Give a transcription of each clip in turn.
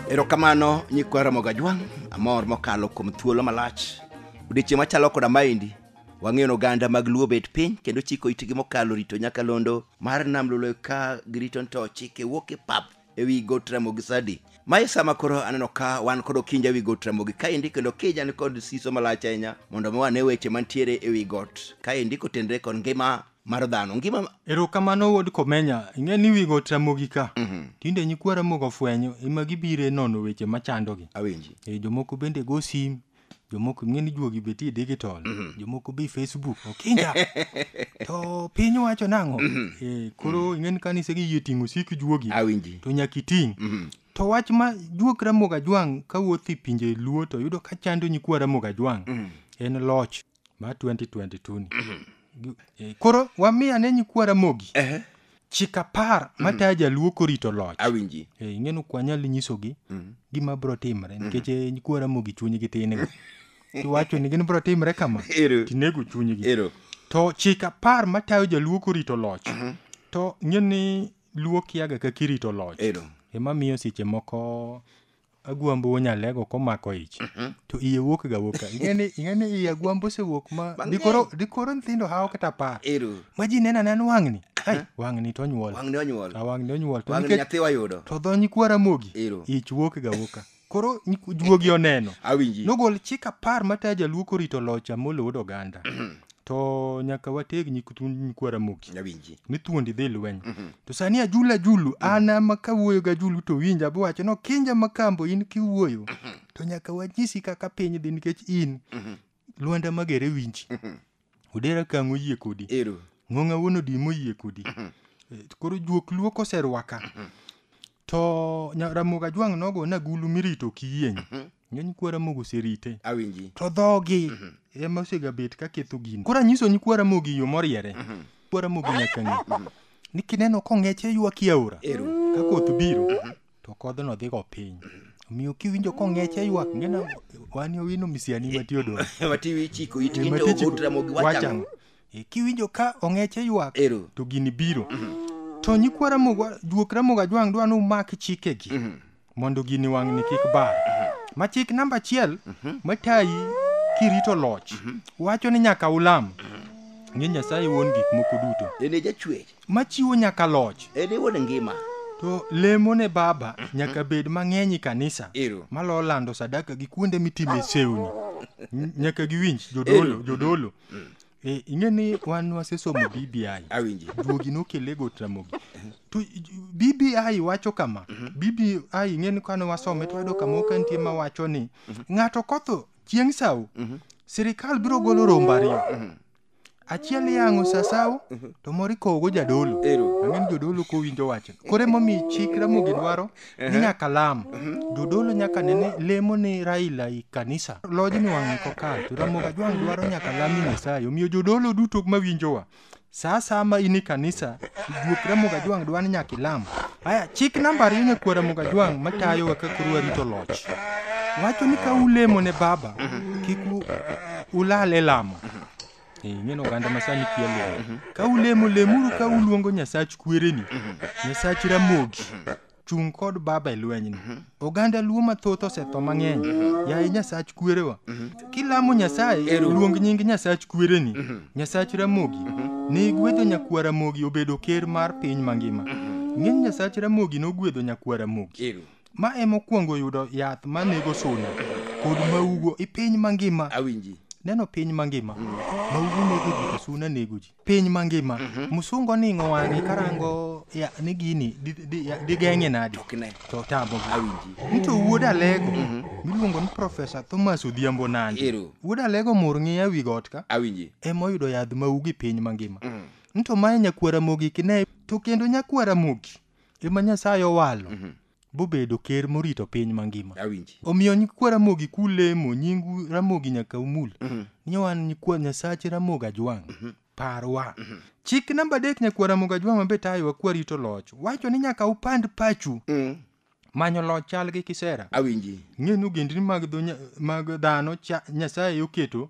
Erokamano nyikwa Ramogi Ajwang', amor mokalo kuom thuolo malach. Odiechieng' machalo koda maendi, wang'eyo ni oganda mag Luo bet piny kendo chiko itgi mokalo rito nyakalondo mar Nam Lolwe ka girito ni to chike wuok e pap ewi got ramogi sadi mae sama koro aneno ka wan kod okinja ewi got ramogi kaendi kendo kija ni kod siso malach ahinya mondo mi wane weche mantiere ewi got kaendi kotenre kod ngima mar dhano ngima erokamano wuod komenya ing'e ni wigo tramogi ka tinde nyikwa ramogo ofwenyo ema gibire nono weche machandogi awinji e, jomoko bende go sim jomoko ing'e ni juogi betie digital mhm. jomoko be facebook okinja to piny wacho nang'o mhm. eh, koro mhm. ing'e ni kanise gi yie ting'o sik juogi to nyaka iting' to wach ma juok ramoga jwang' kawuoth i pinje luo to yudo ka chando nyikwa ramoga jwang' en loch ma 2022 ni Gi- eh, koro wami ane nyikwa ramogi Ehe, chik apar matayo jaluo korito loch awinji Eh, ing'e ni ok wanyal nyisogi gima biro timre nikech eh, nyikwa ramogi chunygi tin iwacho ni gin biro timre kama Ero. tinego chunygi ero to chik apar matayo jaluo korito loch to ing'e ni luo kiaga kaka irito loch ero ema miyo seche moko agwambo wuo nyalego komako ich to iye wuok ga wuok ka. Ing'e ni ing'e ni iye agwambo osewuok ma Mang'eny. dikoro dikoro nyithindo hawo kata apar Ero. ma ji neno aneno wang'ni ai wang'ni to onyuol Wang'ni onyuol. a wang'ni onyuol to Wang'ni nikech nyathi wayudo. to dho nyikwa ramogi Ero. ich wuok ga wuok ka. koro nyik- juogi oneno Awinji. nogol chik apar matayo jaluo korito loch amolo wuod oganda to nyaka wateg nyik thund nyikwa ramogi Nyawinji. ni thuondi dhi lweny to sani ajulu ajulu an ama kawuoyo gi ajulu to winja biwacho ni okinja makambo in kiwuoyo to nyaka wanyisi kaka piny dhi nikech in lwanda magere winji odera kang' oyie kodi Ero. ng'ong'a wuon odi moyie kodi Eh, koro juok luo koserwaka to nya- ramogi ajwang' nogo na gulu mirito kiyieng ng'eny kwa ramogi oserite awinji to dhogi ema osegabet ka ketho gini koro anyiso nyikwa ramogi yo moriere kwa ramogi nyaka ng'e ni kineno kong'eche ywa kiaora Ero. ka koth biro to kodhno dhigo piny omiyo kiwinjo kong'eche ywak ng'ena wani owino misiani matiodoro matiwi chiko itgi to ogotra mogi wachang wachang E, kiwinjo ka ong'eche ywak Ero. to gini biro to nyikwa ramogo juok ramogo ajwang' dwa ni umak chikegi mondo gini wang'ni kik bar ma chik namba achiel matayi kirito loch wacho ni nyaka ulam ni nyasaye wuon gik moko duto En e jachwech. machiwo nyaka loch En e wuon ngima. to lemo ne baba nyaka bed mang'eny e kanisa Ero. malo lando sadaka gi kuonde mitime sewni N- nyaka giwinj jodolo Ero. jodolo mm. Eh, ing'e ni wan wasesomo bbi awinji duogi nokele go tramogi to bbi wacho kama mhm. bbi ing'e ni kane wasome to wayudo kama ok nitie ma wacho ni mhm. ng'ato kotho chieng' sawo mhm. sirikal biro golo rombo ariyo achiel yang'o sasawo to moro ikowogo jadolo ang'e ni jodolo kowinjo wachno koro emomiyo chik ramogi dwaro ni nyaka lam jodolo nyaka ne ni lemo ni raila i kanisa lojni wang'e kokal to ramogi ajwang' dwaro nyaka lami nyasaye omiyo jodolo duto mawinjowa sa asaya ma in i kanisa juok ramogi ajwang' dwa ni nyaka ilam aya chik namba ariyo nyakuo ramogi ajwang' matayowa ka koro warito loch wacho ni ka ulemo ne baba kik u- ulal e lamo Eh, ing'eno oganda ma sani kia lemo mhm. ka ulemo lemuru ka uluongo nyasach kwereni mhm. nyasach ramogi mhm. chung' kod baba e lwenyni oganda luo mathoth osetho mang'eny yaye nyasach kwerewa kilamo nyasaye luong nying nyasach kwereni nyasach ramogi ne igwedho nyakwa ramogi obedo ker mar piny mangima ng'eny nyasach ramogi nogwedho nyakwa ramogi ma emokwongo yudo yath ma nego suna kod maugo i piny mangima awinji neno piny mangima maugo nego ji to suna nego ji piny mangima musungu oning'o wang'e karango ya- ni gini di- di- ya- digeng'e nadi kine to tamo awinji nito wuod alego miluongo ni profesa thomas odhiambo nandi Ero. wuod alego mur ng'iya wi got ka awinji emoyudo yadh maugo i piny mangima nto mae nyakwara mogi kine to kendo nyakwara mogi ema Nyasaye owalo bobedo ker morito piny mangima. Awinji. Omiyo nyikwa Ramogi kulemo nyingu Ramogi nyaka umul. Ni wan nyikwa Nyasache Ramogi Ajwang'. Parwa. Chik namba adek nyakwa Ramogi Ajwang' ma be tayowa kwa rito loch. Wacho ni nyaka upand pachu. Manyo loch chal gi kisera. Awinji. Ng'e ni ogendni mag, dho, nya- mag dhano cha, Nyasaye oketo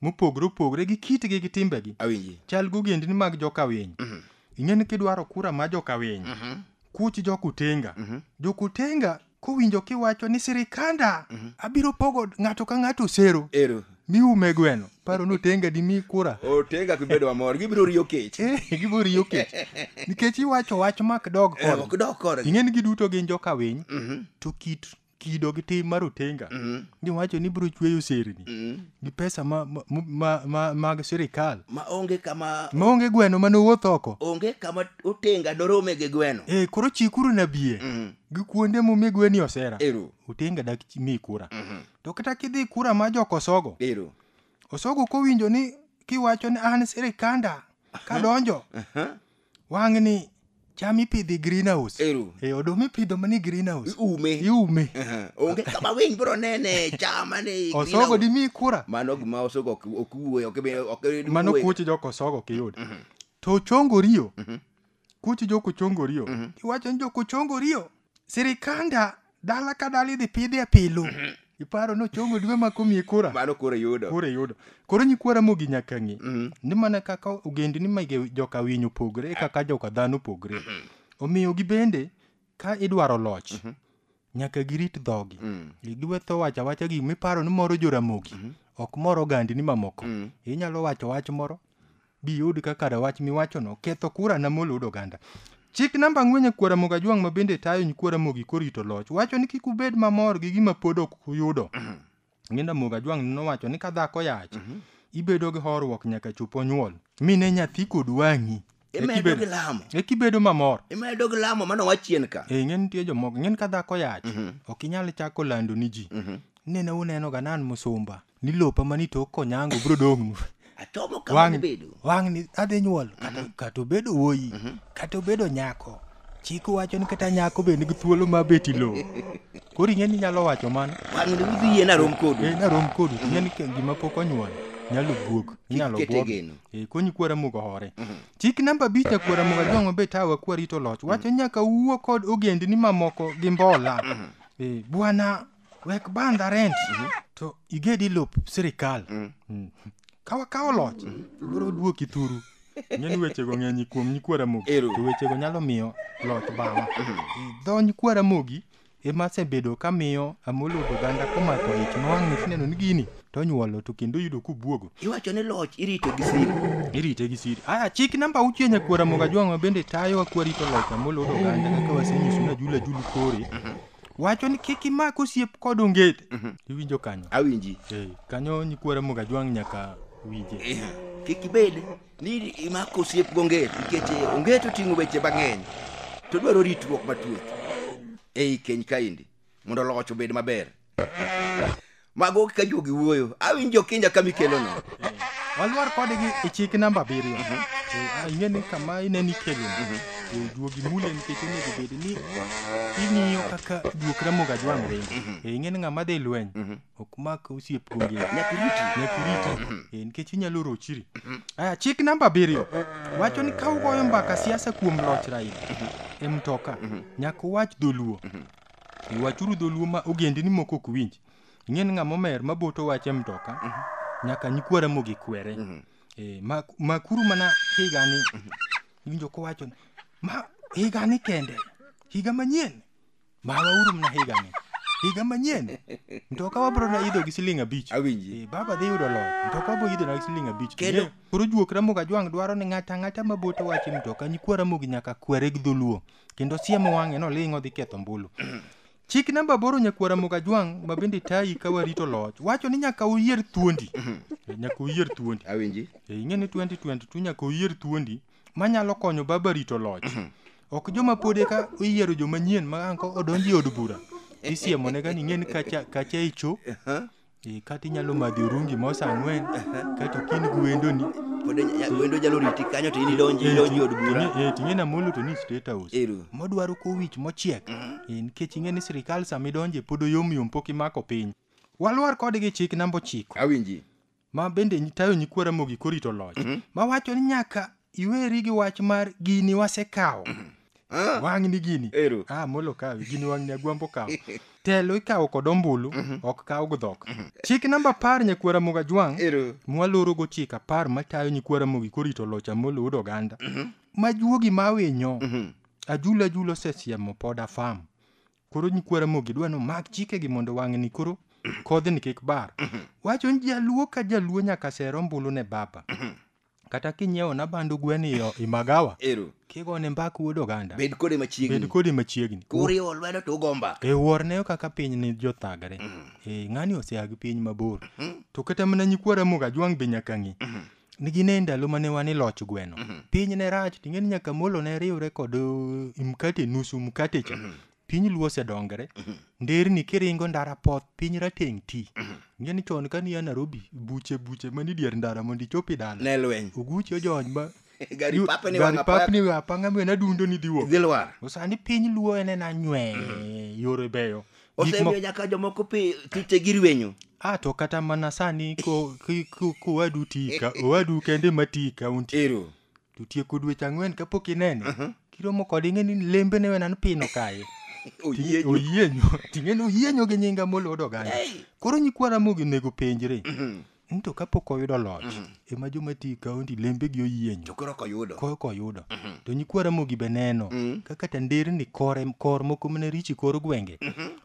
mopogre opogre gi kitgi gi timbegi awinji chal gogendni mag jokawiny Mhm. ing'e ni kidwaro kura ma jokawiny Mhm. kuch jokutenga Mhm. jokutenga kowinjo kiwacho ni sirikanda Mhm. abiro pogo ng'ato ka ng'ato osero ero miume gweno paro ni otenga dimi kura otenga kibedo mamor gibiro riyo kech Eh, giboriyo kech nikech iwacho wach mak dog Eh, kod ok dok korgi ing'e ni giduto gin jokawiny Mhm. to kit kido gi tim mar otenga mm. giwacho ni biro chweyo serni mm. gi pesa ma, ma, ma, ma, mag sirikal ma onge kama ma onge gweno ma nowuoth oko onge kama otenga dorome gi gweno e koro chikuru na bie mm. gi kuonde mumi gweni osera Ero. otenga dak mi kura mm -hmm. to kata kidhi kura ma jok osogo Ero. osogo kowinjo ni kiwacho ni an sirikanda kadonjo uh -huh. Wang'ni cham ipidho e greenhouse. Ero. E oduma ipidho mana e greenhouse. Iume. Iume. Aha. Onge kama winy biro nene cham mane i Osogo greenhouse. dimi kura. Mano gima osogo ok ok wuoyo, ok be- ok en Mano wuoyo. kuoch jok osogo ok iyud. To ochongo riyo. Kuoch jok ochongo riyo. Iwacho ni jok ochongo riyo. Sirikanda dala ka dala idhi pidhi e pilu iparo nochongo dwe ma komiye kura mano koro yudo kura yudo koro nyikwara mogi nyaka ng'e Mhm. ni mana kaka ogendni ma ge- joka winy opogre e kaka joka dhano opogre omiyo gibende ka idwaro loch nyaka girit dhogi Mm. giwetho wacho awacha gik miparo ni moro joramogi ok mor ogandni mamoko Mm. inyalo wacho wach moro biyud kaka rawach miwachono ketho kura na molo od oganda chik namba ang'wen e kwara moga jwang' ma bende tayo nyikwara mogi korito loch wacho ni kik ubed mamor gi gima pod ok uyudo ng'enda moga jwang' nowacho ni ka dhako yach ibedo gi horuok nyaka chop onyuol mine nyathi kod wang'i imedo gi lamo eki bedo mamor imedo gi lamo mano wachien ka e ng'e nitie jomoko ng'en ka dhako yach ok inyal chako lando ni ji nene uneno ga nan musumba ni lopa mani tok konyango biro dong'nu achomo kama wang' gibedo wang' ni adhi nyuol kata- kata obedo wuoyi kata obedo nyako chik wacho ni kata nyako be nigi thuolo ma bet i lowo koro ing'e ni inyalo wacho mano wang' ni udhi yie narom kodu Eh, narom kodu ing'e ni ke- gima pok onyuol nyalo buok inyalo kete buok geno. Eh, konyi kwara mugo hore chik namba abich akwara mugo jong'o be tawa kwarito loch wacho nyaka wuo kod ogendni mamoko gi mbola Eh, bwana wek bandha rent to igedi lop sirikal Mm. ka wakawo loch biro duoki thuru ng'eni wechego ng'eny kuom nyikwa ramogi Ero. to wechego nyalo miyo loch bawa dho nyikwa ramogi ema asebedo kamiyo amolo oganda komako ich ma wang'ni sineno ni gini to onyuolo to kendo yudo kubuogo iwacho ni loch irito gi siri irite gi siri aya chik namba auchiel nyakwara moga jwang'wa bende tayowa kwarito loch amolo oganda kaka wasenyiso na jula julu kore wacho ni kik imak osiep kod ongete iwinjo kanyo awinji Eh, kanyo nyikwara mogajwang' nyaka winje Eh, kik ibed ni imako osiep gongeti nikech eh, ongeti oting'o weche mang'eny to dwaro ritruok matut ei keny kaendi mondo loch obed maber mago kaka juogi wuoyo awinjo kinja kama ikelono Eh, walwar kodgi e chik namba abiriyo Eh, ah, ing'e ni kama ineni kelo juogi mule nikech onego bed ni ing'iyo kaka juok ramoga jwang' ringo Eh, ing'e ni ng'ama dhi lweny ok mak osiep kuonge nyakuriti nyakuriti Eh, nikech inyalo rochiri aya chik namba abiriyo wacho ni ka ugoyo mbaka siasa kuom loch raila e mtoka nyaka uwach dholuo E wachuru dholuo ma ogendini moko ok winj. Ing'e ni ng'ama omer ma boto wache mtoka nyaka nyikwa Ramogi kwere. Eh, ma makuru mana higani iwinjo kowacho ni, ma higani kende higa manyien mawauru mana higani higa manyien mtoka wabro na idho gi siling abich Awinji. Eh, baba dhi yudo loch mtoka wabro idho na gi siling abich Kendo- Kendo- koro juok ramogi ajwang' dwaro ni ng'ata ng'ata ma boto wache mtoka nyikwa ramogi nyaka kwere gi dholuo kendo siemo wang'e noling' odhi ketho mbulu chik namba aboro nyakwara mogajwang' ma bende tayi ka warito loch wacho ni nyaka uyier thuondi Eh, nyaka uyier thuondi awinji Eh, ing'e ni 2022 nyaka uyier thuondi manyalo konyo baba rito loch ok joma pod eka iyiero joma nyien ma anko odonji e od bura isiemo ne gani ing'e ni kacha kacha icho Eh, kata inyalo madhi orungi mos ang'wen kato kin gi wendoni pod ya- wendo jalo riti kanyo to in idonji idonji od bura ting'e na molo to ni state house Ero. modwaro kowich mochiek Eh, nikech ing'e ni sirikal sama idonje pod oyomyom pok imako piny walwar kodgi chik namba ochiko awinji ma bende nyi- tayo nyikwara mogi korito loch mawacho ni nyaka iweri gi wach mar gini wasekawo Ah, wang'ni gini Ero. ah, molo kawi gini wang'ni agwambo kawo telo ikawo kod ombulu ok kaw gdhok chik namba apar nyakwara moga jwang' Ero. mwalorogo chik apar matayo nyikwara mogi korito loch amolo ud oganda ma juogi ma winyo ajula ajula osesiemo pod afam koro nyikwara mogi dwa ni omak chikegi mondo wang'ni koro kodhni kik bar wacho ni jaluo ka jaluo nyaka ser ombulu ne baba kata kinyiewo na bandu gwen iyo i magawa ero kigone mbak wuod oganda bed kode bed machiegni kodi machiegni kuriwo lwedo to ugo mbaka e worne kaka piny ni jothagre e ng'ani osea gi piny mabor to kata mana nyikwara muga jwang' be nyaka ng'i ni gin e ndalo mane wan e loch gweno piny ne rach ting'e ni nyaka molo ne riwre kod uh, mkate nusu mkate cha piny luo osedongre mhm. nderni kiringo ndara poth piny rateng' ti mhm. ng'e ni chon ka niya narobi buche buche mani dier ndara mondo ichopi dala ne lweny oguchi ojony ma gari papni wanga papni wa panga mwe na dundo ni diwo dilwar osani piny luo ene na nywe mhm. yore beyo osemiyo nyaka jomoko pi tute gi rwenyo a ah, to kata mana sani ko ko wadu tika owadu kende matika unti ero to tieko dweche ang'wen kapok inene kiromo kode ing'e ni lembe ne wena ni pino kaye Oyie ju- oyienyo ting'e ni oyienyo gi nyinga molodo oganda koro nyikwa ramogi onego penjre ni to kapok oyudo loch ema joma ti kaonti lembegi oyienyo to koro koyudo ko koyudo to nyikwa ramogi be neno kaka tanderni kore kor moko mane richi kor gwenge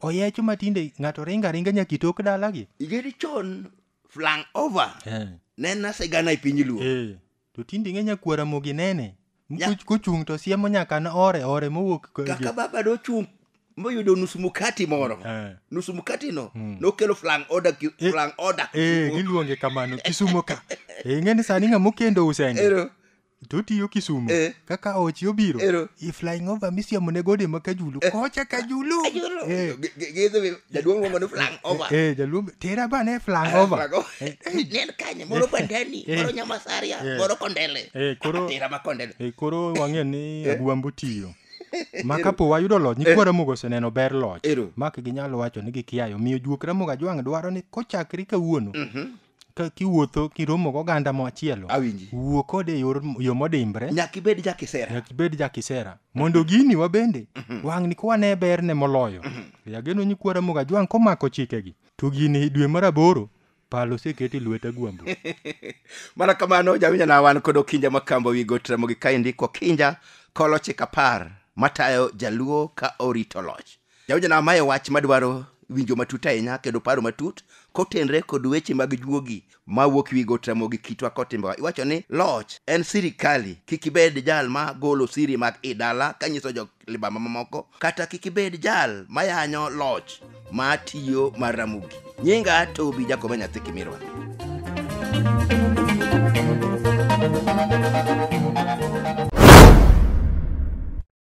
oyecho matinde ng'ato ringo aringa nyaka itok dalagi igeni chon flang over Eh, ne nasegana e piny luo eh. To tinde ing'e nyakwara mogi nene. Nya- Kuch- Kuchung' to siemo nyaka na ore ore mowuok. ko- kaka baba nochung' moyudo nus mukati moro Eh. nus mukati no nokelo flang order ki- Eh. flang order Eh, giluonge kamano Kisumo ka. Eh, ing'e ni sani ng'ama okendo usende. ero to otiyo kisumu Eh. kaka ochi obiro Ero. i flying over misiemo ne gode ma kajulu kocha kajulu Ayoro. Eh, Gi- gi- gidhi jaduong' luongo ni flang over eh, eh jaluong tera ba ne flang ah, over eh, eh. nel kanye moro bandani moro nyamasaria moro kondele eh koro ah, tera ma kondele eh koro wang'e ni abuambo tiyo ma kapo wayudo loch nyikwa eh. ramogo oseneno ber loch mak ginyalo wacho ni gikiayo miyo juok ramogo ajwang' dwaro ni kochakre kawuono mhm. Ka kiwuotho kiromo goganda machielo, Awinji. wuo kode e yor- yo modimbre, nyaka ibed jakisera nyaka ibed jakisera mondo gini wabende wang'ni kwane berne moloyo yageno nyikwara moga jwang' komako chikegi to gini dwe mar aboro palo oseketi lweta gwambo mana kamano jawinjo na wan kod okinja makamba wi got ramogi kaendi kokinja kolochik apar matayo jaluo ka orito loch Jawinjona, mae wach madwaro winjo matut ahinya kendo paro matut kotenre kod weche mag juogi ma wuok wi got Ramogi kitwa kod timbewa. Iwacho ni loch en sirikali, kik ibed jal ma golo siri mag i dala kanyiso jo libamba mamoko, kata kik ibed jal mayanyo loch ma tiyo mar Ramogi. Nyinga Tobi Jakobe Nyathi Kimirwa.